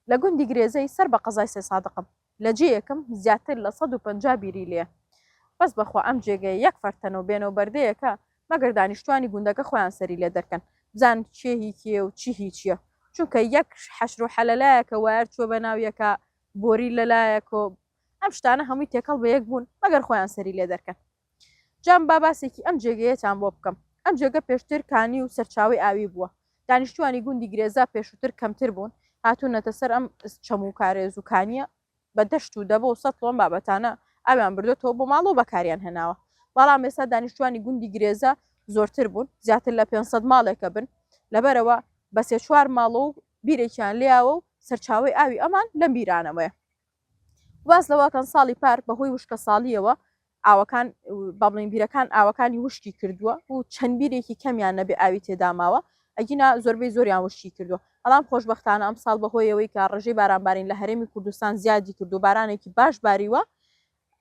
لە گوندی گرێزەی سەر بە قەزای سێسادقم لە جێیەکم زیاتر لە سەد و پەنجا بیری لێیە بەس بەخوا ئەم جێگەیە یەک فەر تەنە و بێنە و بەردەیەکە مەگەر دانیشتوانی گوندەکە خۆیان سەری لێ دەرکەن بزانن کێ هی کێیە و چی هی چیە چونکە یەک حەشر و حەلە لایەکە وایەر چوە بە ناو یەکا بۆری لە لایەکۆ ئەم شتانە هەمووی تێکەڵ بە یەک بوون مەگەر خۆیان سەری لێ دەرکەن. جام با باسێکی ئەم جێگەیەتان بۆ بکەم. ئەم جێگە پێشتر کانی و سەرچاوەی ئاوی بووە. دانیشتووانی گوندی گرێزا پێشووتر کەمتر بوون، هاتوونەتە سەر ئەم چەم و کارێز و کانییە، بە دەشت و دەبە و سەتڵ و ئەم بابەتانە ئاویان بردۆتەوە بۆ ماڵ و بەکاریان هێناوە. بەڵام ئێستا دانیشتووانی گوندی گرێزا زۆرتر بوون، زیاتر لە پێنج سەد ماڵێک ئەبن، لەبەرئەوە بە سێ چوار ماڵە و بیرێکیان لێیاوە و سەرچاوەی ئاوی ئەمان لەم بیرانەوەیە. باس لەوەکەن ساڵی پار بەهۆی وشکە ساڵیەوە ئاوەکان بابلین بیرەکان ئاوەکانی وشکی کردووە و چەند بیرێکی کەمیان نەبێ ئاوی تێداماوە ئەگینا زۆربەی زۆریان وشکی کردووە بەڵام خۆشببختانە ئەم ساڵ بەهۆیەوەی کە ڕژەی بارانبارین لە هەرێمی کوردستان زیادی کردو بارانێکی باش باریوە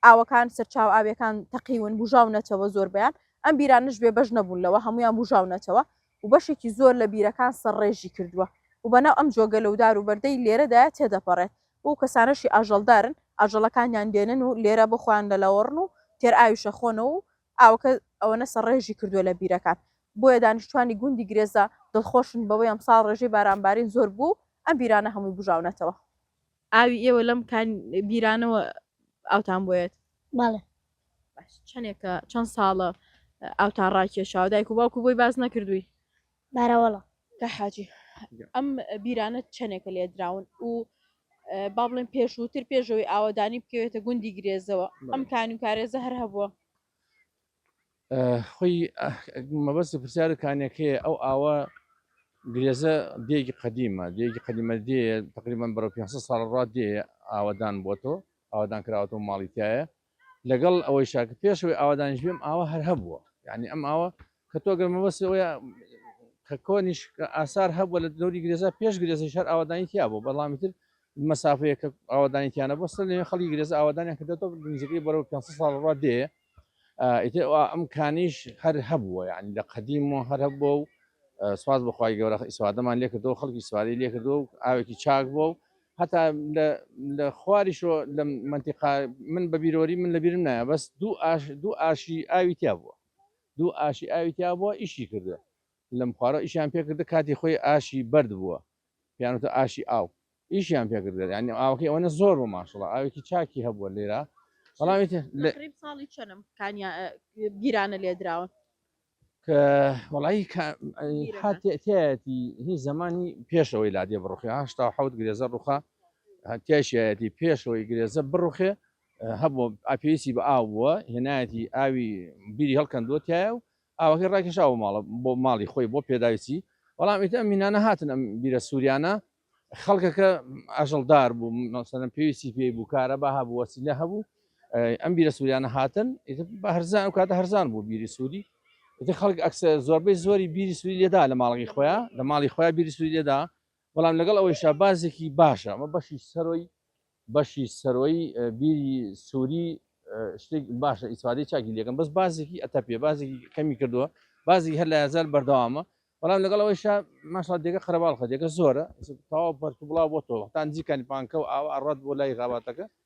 ئاوەکان، سەرچاوە ئاوییەکان تەقیون، بووژاونەتەوە، زۆربەیان ئەم بیرانەش بێ بەش نەبوون لەوە، هەموویان بووژاونەتەوە و بەشێکی زۆر لە بیرەکان سەرڕێژی کردووە و بەناو ئەم جۆگە لەودار و بەردەی لێرەدایە تێدەپەڕێت و ئەو کەسانەشی ئاژەڵدارن ئاژەڵەکانیان دێنن و لێرە بۆ خۆیان دەلەوەڕن و تێرئاویش ئەخۆنەوە و ئاوەکە ئەوەنە سەرڕێژی کردووە لە بیرەکان بۆیە دانیشتوانی گوندی گرێزە دڵخۆشن بەوەی ئەمساڵ ڕێژەی بارانبارین زۆر بووە و ئەم بیرانە هەمووی بووژاونەتەوە. ئاوی ئێوە لەم کان بیرانەوە ئاوتان بۆیەت بەڵێ باش چەندێکە چەند ساڵە ئاوتان ڕاکێشاوە دایک و باوکو بۆی باز نەکردووی بارەوەڵە کە حاجی ئەم بیرانە چەندێکە لێ دراون و اه، با بڵێن پێشووتر پێشەوەی ئاوەدانی بکەوێتە گوندی گرێزەوە ئەم کانی و کارێزە هەر هەبووە خۆی مەبەست پرسیارە کانەکەی ئەو ئاوە گرێزە دێگی قدیمە دێگی قدیمە دێ تقریبان بەرە 500 ساڵ ڕا دێ ئاوادان بۆتۆ ئاوادان کراوەەوە ماڵیتایە لەگەڵ ئەوەی شاکە پێشەوەی ئاوادانش بێم ئاوە هەر هەبووە یعنی ئەم ئاوە کە تۆ گەر مەبەست ئەوە کە کۆنیش ئاسار هەبووە لە دەوری گرێزە پێش گرێزی شەر ئاوادانی تیا بوو بەڵامی تر مسافەیە کە ئاوادانی تیانە بەسەر لێ خەڵی گرێزە ئاوادانیان کردێتەوە گرنجەکەی بەرەوە 500 ساڵ ڕا دێ ئیتر ئەم کانیش هەر هەبووە یعنی لە قەدیم و هەر هەبووە و سوپاس بەخوای گەورە ئیسوادەمان لێکردەوە خەڵکی سواری لێکردەوە و ئاوێکی چاک بووە و هەتا لە خواریشۆ لە منتیقا من بە بیرۆری من لە بیرم نایە بەس دوو ئاش دوو ئاشی ئاوی تیا بووە دوو ئاشی ئاوی تیا بووە ئیشی کردووە لەم خوارە ئیشیان پێکردە کاتی خۆی ئاشی بەرد بووە پێیان وتە ئاشی ئاو ئیشیان پێ کرد یانی ئاوەکەی ئەوەنە زۆر بوو ماشەڵڵا ئاوێکی چاکی هەبووە لێرە بەڵام ئیتر لە- تەقریب ساڵی چەنم کانیا گیرانە لێ دراون کە وەڵایی کە بیرەکە. هاتێتیایەتی هی زمانی پێشەوەی لادێ بڕوخێ هشتا و حەوت گرێزە ڕوخا هەتیاشایەتی پێشەوەی گرێزە بڕوخێ هەبوو ئاپێسی بە ئاو بووە هێنایەتی ئاوی بیری هەڵکەندووە تایە و ئاوەکەی ڕاکێشاوە ماڵە بۆ ماڵی خۆی بۆ پێداویستی بەڵام ئیتر ئەم مینانە هاتن ئەم بیرە سووریانە خەڵکەکە ئاژەڵدار بوو مەسەرم پێویستی پێی بوو کارە بە هەبوو وەسیلە هەبوو ئەم بیرە سووریانە هاتن بە هەرزان و کاتە هەرزان بوو بیری سووری ئیتر خەڵک ئەکسە زۆربەی زۆری بیری سووری لێدا لە ماڵی خۆیان لە ماڵی خۆیان بیری سووری لێدا بەڵام لەگەڵ ئەوەی شابازێکی باشە ئەمە بەشی سەرۆی بەشی سەرۆی بیری سووری شتێک باشە ئیسفادەی چاکی لەکەم بەس بازێکی ئەتە پێ بازێکی کەمی کردووە بازی هەر لە یازار بەردەوامە بەڵام لەگەڵ ئەوەی شا ماشا دێگە قەرەباڵ خەدێکە زۆرە تاوا بەرک بڵاو بۆ تۆ هەتان جیکانی پانکە و ئاوا ئەڕات بۆ لای غاباتەکە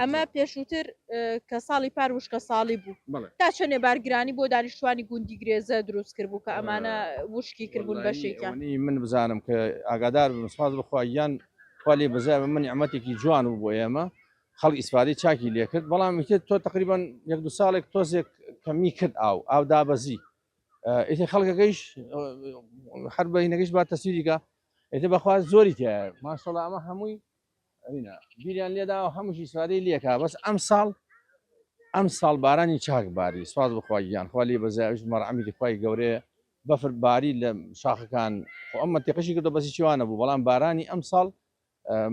ئەمە پێشووتر کە ساڵی پار وشکە ساڵی بوو تا چەنێ بارگرانی بۆ دانیشتوانی گوندی گرێزە دروست کرد بوو کە ئەمانە وشکی کردبوون بەشێکیانی من بزانم کە ئاگادار بمسپاز بخوایان خالی بزای بە من ئەمەتێکی جوان و بۆ ئێمە خەڵ ئیسفادی چاکی لێکرد بەڵام میتر تۆ تقریبان یەک دو ساڵێک تۆزێک کەمی کرد ئاو ئاو دابەزی ئیتر خەڵکەکەیش هەر بەینەکەش با تەسیریکە ئێتە بەخواز زۆری تایە ماشەڵ ئەمە هەمووی ئەوینا بیریان لێدا و هەمووش ئیسفادەی لێکا بەس ئەم ساڵ ئەم ساڵ بارانی چاک باری سواز بخوای گیان خوا لێ بەزایش مەرعەمی دخوای گەورەیە بەفر باری لە شاخەکان خۆ ئەم منتیقشی کردو بەسی چوانە بوو بەڵام بارانی ئەم ساڵ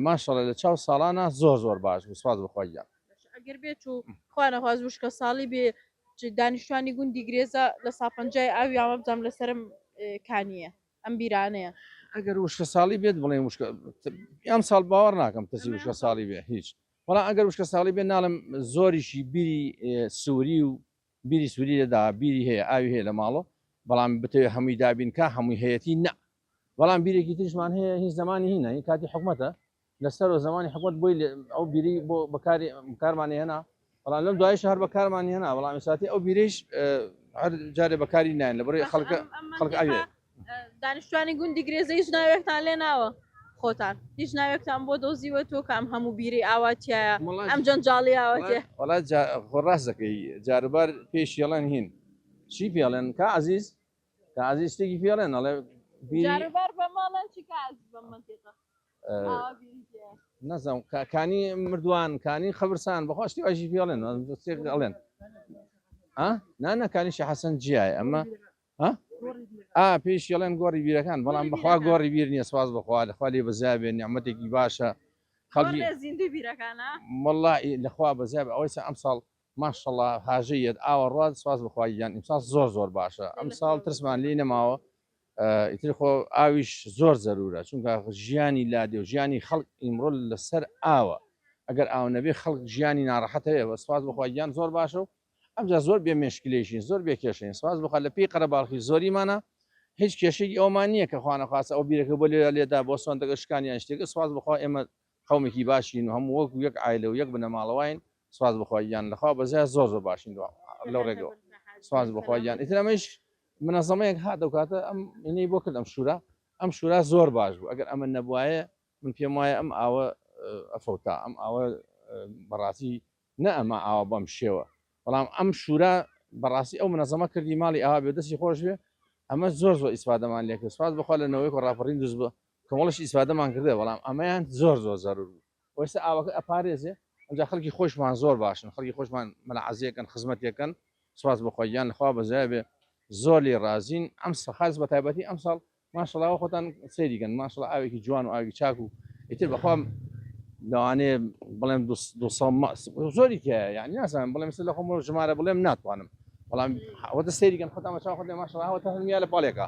ماشەڵە لە چاو ساڵانە زۆر زۆر باش بوو سواز بخوای گیان ئەگەر بێت و خوانەخواز وشکە ساڵی بێ دانیشتوانی گوندی گرێزە لە ساپەنجای ئاوی ئاوابزانام لەسرم کانیە ئەم بیرانەیە. ئەگەر وشکە ساڵی بێت بڵێن وشکە ئەم ساڵ باوەڕ ناکەم کەسی وشکە ساڵی بێ هیچ بەڵام ئەگەر وشکە ساڵی بێ ناڵم زۆریشی بیری سووری و بیری سووری لەدا بیری هەیە ئاوی هەیە لە ماڵۆ بەڵام بتەوێت هەمووی دابینکە هەمووی هەیەی نە بەڵام بیرێکی تریشمان هەیە هیچ زمانی هینە هی کاتی حکوومەتە لە سەرەوە زەمانی حکومەت بۆی ئەو بیری بۆ بەکاری بکارمانی هێنا بەڵام لەم دوایش هەر بەکارمانی هێنا بەڵام ئێساتی ئەو بیریش هەر جارێ بەکاری نایەن لە بڕی خەڵکە خەڵک ئەوێ دانیشتوانی گوندی گرێزە هیچ ناوێکتان لێ ناوە خۆتان هیچ ناوێکتان بۆ دۆزیوە تۆ کام هەموو بیری ئاواتیە ئەم جەنجاڵی ئاواتێ وڵا خۆڕاست دەکەی جاربار پێش یڵەن هین چی پێڵێن کا عزیز کا عزیز شتێکی پێڵێن ئەڵێ بیری جاربار بە ماڵەن چی کا عزیز بە منتیقە نەزم کانی مردووان کانی خەبرسان بەخوا شتی واژی پێڵێن دەستێک ئەڵێن نانەکانیشی حەسەن جیای ئەمە ئا پێش یڵێن گۆڕی بیرەکان بەڵام بەخوا گۆڕی بیر نیە سواز بەخوا لەخوا لێ بەزیابێ نیعممەتێکی باشە خەڵکی مڵا لەخوا بەزیاب ئەوەی ئەم ساڵ ماشەڵا هاژەیەت ئاوە ڕات سواز بخوایان ئیمساڵ زۆر زۆر باشە ئەم ساڵ ترسمان لی نەماوە ئیتر خۆ ئاویش زۆر زەرورە چونکە ژیانی لادێ و ژیانی خەڵک ئیمڕۆ لەسەر ئاوە ئەگەر ئاو نەبێ خەڵک ژیانی ناڕەحەتەیە وە سپاس بخوا گیان زۆر باشە و ئەمجا زۆر بێ مشکلێشین زۆر بێ کێشەین سپاس بخوا لە پێی قەرەباڵخی زۆریمانە هیچ کێشەی ئەومان نییە کە خوانەخواستە ئەو بیرەکە بۆ لێرا لێدا بۆ سۆندەکە شکانیان شتێکە سپاس بخوا ئێمە قەومێکی باشین و هەموو وەکو یەک عایلە و یەک بنەماڵەواین سوپاس بۆ خوا گیان لەخوا بەزیا زۆر زۆر باشین دوا لەو ڕێگەوە سوپاس بۆ خوا گیان ئیتر ئەمەیش منەزەمەیەک هات ئەو کاتە ئەم ئینەی بۆ کرد ئەم شورا ئەم شورا زۆر باش بوو ئەگەر ئەمە نەبوایە من پێم وایە ئەم ئاوە ئەفەوتا ئەم ئاوە بەڕاستی نە ئەمە ئاوە بەم شێوە بەڵام ئەم شورا بەڕاستی ئەو منەزەمە کردی ماڵی ئاوا بێ دەستی خۆش بێ ئەمە زۆر زۆر ئیسفادەمان لێکرد سوپاس بۆ خوا لە نەوەیەک و ڕاپەڕین دروست بوو کۆمەڵیش ئیسفادەمان کردە بەڵام ئەمەیان زۆر زۆر زەرور بوو وەستا ئاوەکە ئەپارێزێ ئەجا خەڵکی خۆشمان زۆر باشن خەڵکی خۆشمان مەلعەزیەکەن خزمەتەکەن سواز بخۆیان لەخوا بەزیابێ زۆر لی ڕازین ئەم سەخاز بە تایبەتی ئەم ساڵ ماشڵاوە خۆتان سەیریگەن ماشڵ ئاوێکی جوان و ئاوی چاک و ئیتر بەخوام لەوانێ بڵێم زۆری کە یعنی نازانم بڵێم لە خۆم ژمارە بڵێم ناتوانم بەڵام ئەوەتە سەیریگەن خۆتان بە چاخ خۆێ ماشڵاوەتە هەمیان لە پاڵێکە